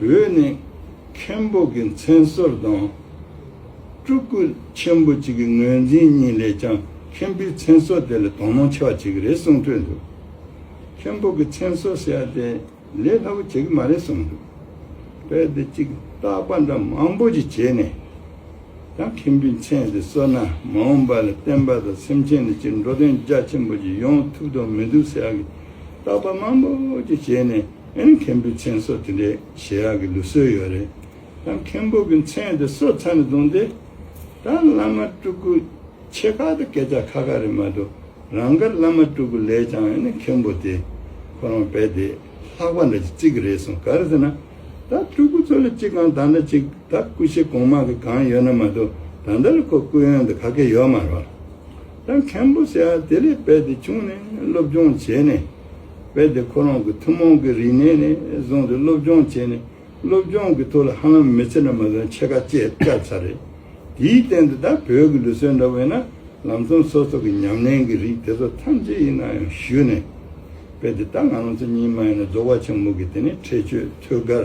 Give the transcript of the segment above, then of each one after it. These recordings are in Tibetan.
བོད་ནི་མཁན་པོ་གི་མཚན་གསོལ་དང། སྤྲུལ་སྐུ་ཆེན་པོ་གཅིག་གི་ངོས་འཛིན་གཉིས་ལས་ཀྱང་མཁན་པོའི་མཚན་གསོལ་དེ་ལས་དོ་སྣང་ཆེ་བ་ཅིག་རེད་གསུངས་འཕྲོས་འདུག་མཁན་པོ་གི་མཚན་གསོལ་ཟེར་བ་དེ་ལས་སླ་པོ་བྱེད་ཀྱི་མ་རེད་གསུངས་འདུག་དཔེར་དེ་གཅིག་བཏགས་པ་འདྲ་མང་པོ་ཅིག་བྱས་ནས་ཀྱང་མཁན་པོའི་མཚན་དེ་གསོལ་ན་མ་འོངས་པ་ལ་བསྟན་པ་དང་སེམས་ཅན་ནི་སྤྱིར་འགྲོ་དོན་རྒྱ་ཆེན་པོ་ཅིག་ཡོང་ཐུབ་དོགས་མི་འདུག་ཟེར་བ་གིས་བཏགས་པ་མང་པོ་ཅིག་བྱས་ནས། མཁན་པོའི་མཚན་སོགས་དེ་འདྲའི་བཞེས་ཡག་གི་ལུགས་སྲོལ་ཡོད་རེད། ད་མཁན་པོ་གི་མཚན་དེ་སོ་ཚ་ནས་བཟུང་སྟེ། ད་བླ་མ་སྤྲུལ་སྐུ་ཆེ་ཁག་དང་སྐད་ཆ་ཁ་ཁ་རེད་མ་གཏོགས་རང་དགར་བླ་མ་སྤྲུལ་སྐུ་ལས་ཀྱང་ཡང་ན་མཁན་པོ་དེ་ཁོ་རང་བས་དེ་ལྷག་པ་འདྲ་ཅིག་བརྩི་གི་རེད་སོང་ག་རེད་ཟེར་ན། ད་སྤྲུལ་སྐུ་ཚོ་ལ་གཅིག་གང་ད་ལྟ་གཅིག་ད་སྐུ་གཤེགས་གོང་མ་གི་གང་ཡོད་ན་མ་གཏོགས་ད་ལྟ་ལ་ཁོ་སྐུ་ཡོན་དུ་ག་གེ་ཡོད་མ་རོགས། ད་མཁན་པོ་ཟེར་ཡག་དེ་ལས་བས་དེ་བྱུང་ནས་སློབ་སྦྱོང་བྱས་ནས། བས་དེ་ཁོ་རང་གི་ཐུན་མོང་གི་རིག་གནས་ནས་བཟུང་སྟེ་སློབ་སྦྱོང་བྱས་ནས་སློབ་སྦྱོང་གི་ཐོག་ལ་ཧ་ལམ་མི་ཚེ་ནང་མ་འདང་ཕྱེད་ཀ་བཅད་བཅག་ཚར་རེད། དེའི་སྟེང་དུ་ད་བོད་ཀྱི་ལུས་སྲོལ་འདྲ་བས་ན་ལམ་སྟོན་སོགས་སོགས་ཀྱི་ཉམས་ལེན་གྱི་རིགས་དེ་ཚོ་ཐམས་ཅད་ཡིན་ན་ཡང་ཞུས་ནས། བས་དེ་ད་ང་རང་ཚོ་གཉིས་མ་ཡིན་ན་རྫོགས་པ་ཆེན་མོ་གི་དེ་ནས་ཁྲེལ་ཆོད་ཐོད་དཀར་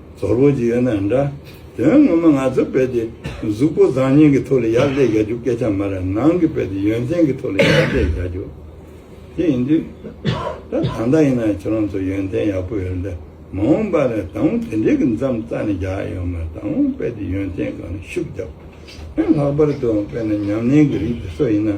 ཟོར་བོ་ཅིག་ཡོད་ན་འདྲ། དོན་ངོ་མ་ང་ཚོའི་དཔེ་དེ་གཟུགས་པོ་བཟང་ངན་གྱི་ཐོག་ལ་ཡར་སླེབས་བཞག་རྒྱུ་སྐད་ཆ་མ་རེད་ནང་གི་དཔེ་དེ་ཡོན་ཏན་གྱི་ཐོག་ལ་ཡར་སླེབས་བཞག་རྒྱུ་དེ་ཡིན་དུས། ད་གང་ལྟར་ཡིན་ན་ཁྱེད་རང་ཚོ་ཡོན་ཏན་ཡག་པོ་ཡོད་འདུག་མ་འོངས་པ་ལ་ད་འུ་དེ་འདྲའི་གི་འཇམ་རྩ་ནས་རྒྱག་ཡོད་མ་རེད་ད་འུ་དཔེ་དེ་ཡོན་ཏན་གང་ནས་ཤུགས་རྒྱག་དེ་ལྷག་པར་དུ་དཔེ་ན་ཉམས་ལེན་གྱི་རིགས་དེ་སོགས་ཡིན་ན།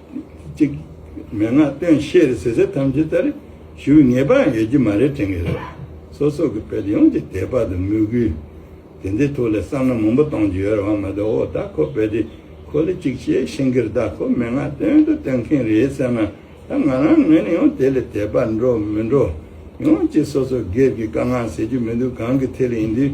ཅིག། མན་ངག་སྟོན་བཤད་ཟེར་ཟེར་ཐམས་ཅད་ལྟར་ཞུ་བའི་ངེས་པའང་ཡོད་ཀྱི་མ་རེད་དྲན་གྱི་རེད། སོ་སོ་གི་བོད་ཡོངས་ཀྱི་དད་པ་དང་མོས་གུས། དེ་འདྲའི་ཐོག་ལས་བསམ་བློ་མང་པོ་གཏོང་རྒྱུ་ཡོད་རེད་བ་མ་དོ་ཨོ་ད་ཁོ་བོད་དེ་ཁོ་ལས་ཅིག་ཤེས་ཤེས་གི་རེད་ད་ཁོ་མན་ངག་སྟོན་དུ་སྟོན་མཁན་རེད་ཟེར་ན་ད་ང་རང་ངོས་ནས་ཡང་དེ་ལས་དད་པ་འགྲོ་མི་འགྲོ། ཡོངས་ཀྱི་སོ་སོ་སྒེར་གྱི་དཀའ་ངལ་ཟེར་རྒྱུ་མི་འདུག་གང་གི་ཐད་ལ་ཡིན་དུས།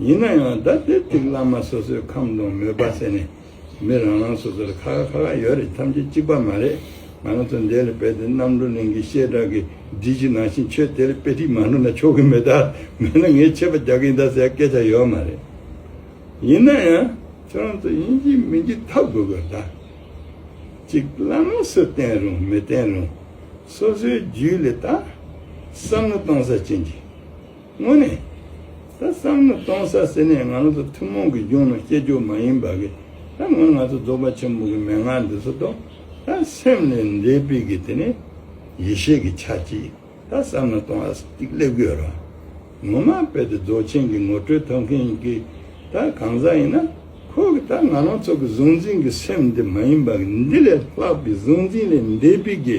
ཡིན་ན་ཡང་ད་དེབ་ཅིག་བླ་མ་སོ་སོའི་ཁམས་དང་མོས་པ་བསྲེས་ནས་མི་རང་རང་སོ་སོར་ཁ་ཁ་ཁ་ཁ་ཡོད་རེད་ཐམས་ཅད་གཅིག་པ་མ་རེད་ང་རང་ཚོ་འདས་ལ་སྦས་ཏེ་རྣམ་གྲོལ་གླིང་གི་བཤད་གྲྭ་གི་སྒྲིག་གཞི་ནང་བཞིན་ཆོས་དེ་ལ་དཔེ་ཁྲིད་མ་འགྲོ་ན་ཆོག་གི་མེད་ད་མེད་ན་ངས་ཆད་པ་རྒྱག་གིན་གདའ་ཟེར་སྐད་ཆ་ཡོད་མ་རེད། ཡིན་ན་ཡང་ཁྱོད་རང་ཚོ་ཡིན་གྱི་མིན་གྱི་ཐབས་དགོས་དགོས་གདའ། གཅིག་བླ་མ་སུ་བསྟེན་རུང་མི་བསྟེན་རུང་སོ་སོའི་རྒྱུད་ལས་ད་བསམ་བློ་གཏོང་ས་ཅི་འདི། དངོས་གནས། ད་བསམ་ན་སྟོང་ས་ཟེར་ནས་ང་ཚོ་ཐུན་མོང་གི་རྒྱུགས་ན་སྐྱེ་རྒྱུ་མ་ཡིན་པ་གི་ད་ངོ་ང་ཚོ་རྫོགས་པ་ཆེན་པོ་གི་མན་ངག་འདི་ཚོ་རྟོག་ད་སེམས་ལས་འདས་པི་གི་དེ་ནི་ཡེ་ཤེས་གི་ཆ་གཅིག་ད་བསམ་ན་སྟོང་ཨ་གཅིག་སླེབས་གི་ཡོད་རང་ངོ་མ་དཔེ་དེ་རྫོགས་ཆེན་གི་ངོ་སྤྲོད་ཐོབ་མཁན་གི་ད་གང་ཟག་ཡིན་ན་ཁོ་གི་ད་ང་རང་ཚོ་གི་གཟུང་འཛིན་གི་སེམས་འདི་མ་ཡིན་པ་གི་འདི་ལས་ལྷག་པི་གཟུང་འཛིན་ལས་འདས་པི་གི།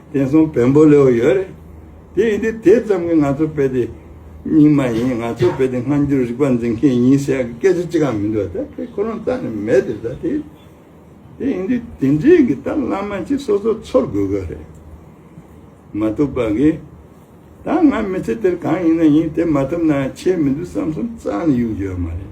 བསྟན་སྲུང་བོན་པོ་ལེའོ་ཡོད་རེད། དེ་ཡིན་དུས་དེ་ཙམ་གྱིས་ང་ཚོ་དཔེ་དེབ་རྙིང་མ་ཡིན་ང་ཚོ་དཔེ་དེབ་སྔ་འགྱུར་རིག་པ་འཛིན་མཁན་ཡིན་ཟེར་ཡག་གི་སྐད་ཆ་ཅི་གང་མི་འདུག་ད་དེ་ཁོ་རང་རྩ་ནས་མེད་དེ་ད་དེ། དེ་ཡིན་དུས་དེ་འབྲེལ་གྱི་ད་བླ་མ་གཅིག་སོ་སོ་འཚོལ་དགོས་གི་རེད། མ་ཐུབ་པ་གི། ད་ང་མི་ཚེ་དེར་གང་ཡིན་ན་ཡིན་དེ་མ་ཐུབ་ན་ཡང་ཆེས་མི་འདུག་བསམ་བསམ་རྩ་ནས་གཡུག་རྒྱུ་ཡོད་མ་རེད།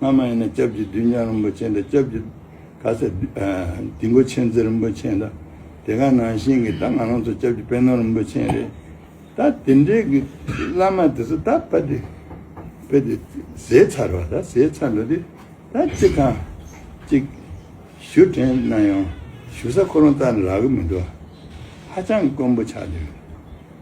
སྔ་མ་ཡིན་ན་སྐྱབས་ཀྱི་བདུད་ཉག་རིན་པོ་ཆེ་འདྲ་སྐྱབས་ཀྱི། ག་ཚད། སྡིག་མགོ་ཆེན་རྩེ་རིན་པོ་ཆེ་འདྲ། དེ་ག་ནང་བཞིན་གྱི་ད་ང་རང་ཚོ་སྐྱབས་ཀྱི་དཔལ་ནོར་རིན་པོ་ཆེན་རེད། ད་དེ་འདྲའི་གི་བླ་མ་དེ་ཚོ་ད་པ་དེ། པེ་དེ་ཟས་ཚར་བ་ད་ཟས་ཚར་འགྲོ་དེ། ད་ཅི་གང། ཅིག། ཞུ་དྲན་གནང་ཡོང། ཞུ་ས་ཁོ་རང་ད་རག་གི་མི་འདུག། ཧ་ཅང་དཀོན་པོ་ཆགས་འདུག།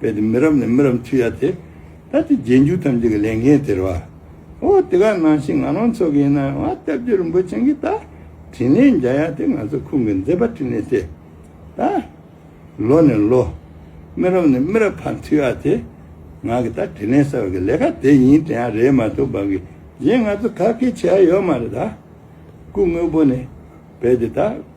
རྦད་དེ་མི་རབས་ནས་མི་རབས་འཐུས་ཡ་དེ། ད་དེ་རྗེས་འཇུག་ཐམས་ཅད་ཀྱི་ལས་འགན་སྟེར་བ། ཨོ་དེ་ག་ནང་བཞིན་ང་རང་ཚོ་གི་ཡིན་ན་ང་ལྟ་བུ་རིན་པོ་ཆེན་གྱི་ད་དྲིན་ལན་འཇལ་ཡ་དེ་ང་ཚོ་ཁུང་གི་མཛེས་པ་དྲིན་ལན་ཏེ། ད་ལོ་ནས་ལོ། མི་རབས་ནས་མི་རབས་བར་འཐུས་ཡ་དེ། ང་གི་ད་དྲིན་ལན་གསར་བ་གི་ལས་ཀ་དེ་ཡིན་དེ་ཡང་རེད་མ་གཏོགས་བར་གི་གཞན་ང་ཚོ་ག་གི་བྱས་ཡ་ཡོད་མ་རེད་ད། སྐུ་དངོས་པོ་ནས་རྦད་དེ་ད།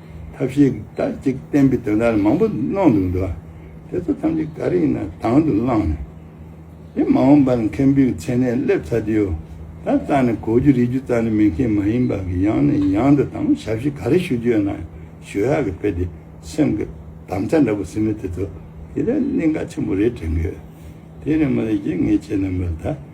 ཐབས་ཤེས་དག་ཅིག་བསྟན་པའི་དོན་དག་མང་པོ་གནང་འདུག་འདུག་དེ་ཚོ་ཐམས་ཅད་ག་རེ་ཡིན་ན་དང་དུ་བླངས་ནས་དེ་མ་འོངས་པ་ལ་མཁན་པོའི་མཚན་གནས་སླེབས་ཚར་རྒྱུ་ད་རྩ་ནས་གོ་རྒྱུ་རིག་རྒྱུ་རྩ་ནས་མི་མཁས་མ་ཡིན་པ་གི་ཡང་ནས་ཡང་དུ་དང་ཞབས་ཕྱི་ག་རེ་ཞུ་རྒྱུ་ཡོད་ན་ཞུ་ཡག་གི་དཔེ་དེ་སེམས་ཀྱི་དམ་བཅའ་འདྲ་པོ་ཟིན་མེད་དེ་ཚོ་དེ་ལས་གླིང་ག་ཆེན་པོ་རེད་དྲན་གི་ཡོད་དེ་ནས་མ་ལས་ཀྱི་ངས་བྱས་ན་མི་ལ་ད།